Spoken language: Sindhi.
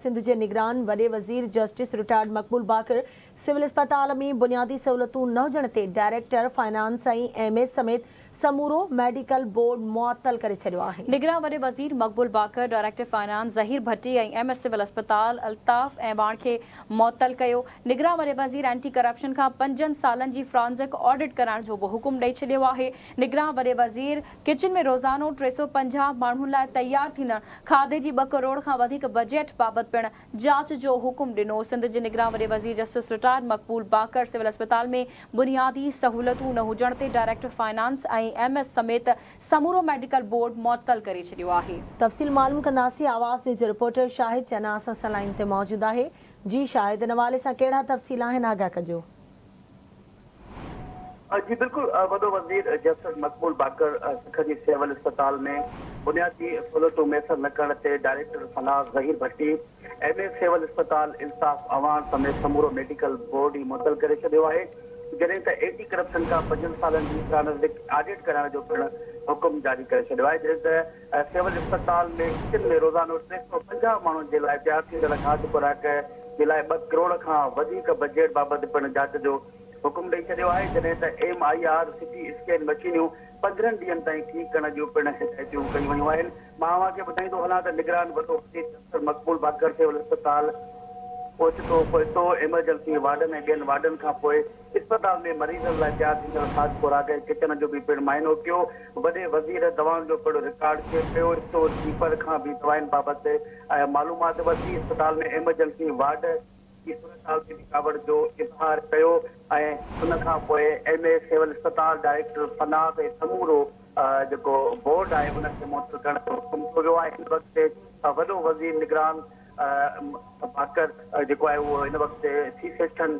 سنڌ جي نگران وڏي وزير جسٽس رٽائرڊ مقبول باقر سول اسپتال ۾ بنيادي سهولتون نه هجڻ تي ڊائريڪٽر فنانس ۽ ايم ايس سميت سمورو ميڊيڪل بورڊ معطل ڪري ڇڏيو آهي. نگران وڏي وزير Maqbool Baqir, director finance Zaheer Bhatti ۽ M S civil اسپتال الطاف اعواڻ کي معطل ڪيو. نگران وڏي وزير اينٽي ڪرپشن کان پنجن سالن جي فرانزڪ آڊٽ ڪرائڻ جو به حڪم ڏئي ڇڏيو آهي. نگران وڏي وزير. ڪچن ۾ روزانو ٽي سؤ پنجاهه ماڻهن لاء تيار ٿيندڙ کاڌي جي ٻه ڪروڙ کان وڌيڪ بجيٽ بابت پڻ جاچ جو حڪم ڏنو، سنڌ جي نگران وڏي وزير جسٽس رٽائرڊ مقبول باقر سول اسپتال ۾ بنيادي سهولتون نه هجڻ تي ڊائريڪٽر فنانس ۽ ايم ايس سميت سمورو ميڊيڪل بورڊ معطل ڪري ڇڏيو آهي. تفصيل معلوم ڪنداسين آواز نيوز جي رپورٽر شاهد چنا اسان سان لائين تي موجود آهي جي شاهد ان حوالي سان ڪهڙا تفصيل آهن آگاهه ڪجو. جي بلڪل وڏو وزير جسٽس مقبول باقر سک جي سول اسپتال ۾ بنيادي سھولتون ميسر نه ڪرڻ تي director Sana Zaheer Bhatti M A civil اسپتال الطاف اعواڻ سميت سمورو ميڊيڪل بورڊ ئي معطل ڪري ڇڏيو آھي جڏھن ته اينٽي ڪرپشن کان پنجن سالن جي فرانزڪ آڊٽ ڪرائڻ جو پڻ حڪم جاري ڪري ڇڏيو آھي جڏھن ته سول اسپتال ۾ ڪچن ۾ روزانو ٽي سؤ پنجاهه ماڻهن جي لاء تيار ٿيندڙ کاڌ خوراڪ جي لاء ٻه ڪروڙ کان وڌيڪ بجيٽ بابت پڻ جاچ جو حڪم ڏئي ڇڏيو آهي جڏهن ته M R I C T scan مشينيون پندرهن ڏينهن تائين ٺيڪ ڪرڻ جون پڻ هدايتيون ڪيون ويون آهن مان اوهان کي ٻڌائيندو هلان ته نگران وڏو وزير ڊاڪٽر مقبول باقر سول اسپتال پهچتو پهچتو ايمرجنسي وارڊن ۽ ٻين وارڊن کان پوء اسپتال ۾ مريضن لاء تيار ٿيندڙ خاص خوراڪ ۽ ڪچن جو به پڻ معائنو ڪيو، وڏي وزير دوائن جو پڻ رڪارڊ چيڪ ڪيو، اسٽور ڪيپر کان به دوائن بابت معلومات ورتي، اسپتال ۾ ايمرجنسي وارڊ جي صورتحال تي به ڪاوڙ جو اظهار ڪيو ۽ ان کان پوء ايم اي سول اسپتال ڊائريڪٽر فناڪ ۽ سمورو جيڪو بورڊ آهي ان کي معطل ڪرڻ جو حڪم ڪيو ويو آهي، هن وقت تي وڏو وزير نگران باقر جيڪو آهي اهو هن وقت تي سي سيڪشن.